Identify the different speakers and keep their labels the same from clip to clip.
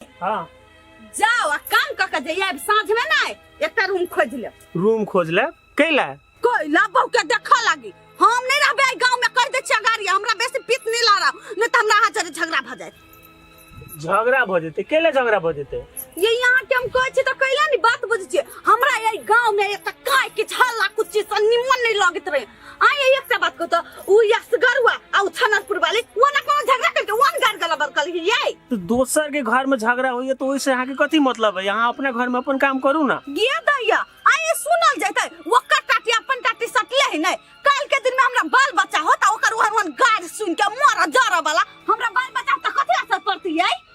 Speaker 1: हाँ जाओ आ काम कऽ के जइया साँझ में ना एकटा रूम खोज ले रूम खोज ले कैला कोई लाबो के देखा लागी हम नहीं रहबे एहि गांव में कर दे छिया गाड़ी हमरा बेसी पीत नहीं ला रहा नहीं तो हमरा हाथ जरे झगड़ा भ जाए झगड़ा भऽ जेतै कैला झगड़ा भऽ जेतै ये यहाँ के हम कहे छी तो कैला नहीं बात बुझे छी हमरा एहि गांव में एत काय के झल्ला कुछ चीज से निमन नहीं लगत रहे आ ये एक से बात को तो उ यसगर हुआ आ उ छनरपुर वाले वो ना कोनो झगड़ा करके वन गार गला बर कल ये तो दोसर के घर में झगड़ा होइए तो ओइसे अहाँ के कथी मतलब है यहाँ अपना घर में अपन काम करू ना गिया दैया आ ये सुनल जैते ओकर टाटी अपन टाटी सटले है नहीं काल के दिन में हमरा बाल बच्चा होता ओकर वन गार सुन के मर जरा वाला हमरा बाल बच्चा तो कथी असर पड़ती है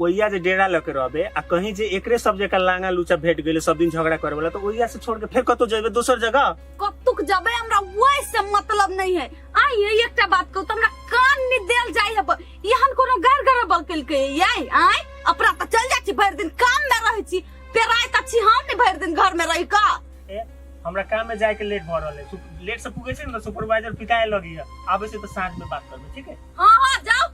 Speaker 1: ओइया जे डेरा लके रहबे आ कहीं जे एकरे सब जगह लांगा लूचा भेट गइले सब दिन झगड़ा करे वाला तो ओइया से छोड़ के फिर कतो जेबे दोसर जगह कतुक जबे हमरा वही से मतलब नहीं है आई है एकटा बात कहू हमरा कान में देल जाई अब यहन कोनो गर गर बकल के यही आई अपना त चल जाई छी भर दिन काम में रहै छी पेराय त छी हम ने भर दिन घर में रहि का ए, हमरा काम में जाए के लेट भ रहले सु- लेट से पुगे छै न सुपरवाइजर पिटाए लगी आबे से तो साँझ में बात करबे ठीक है हां हां जाओ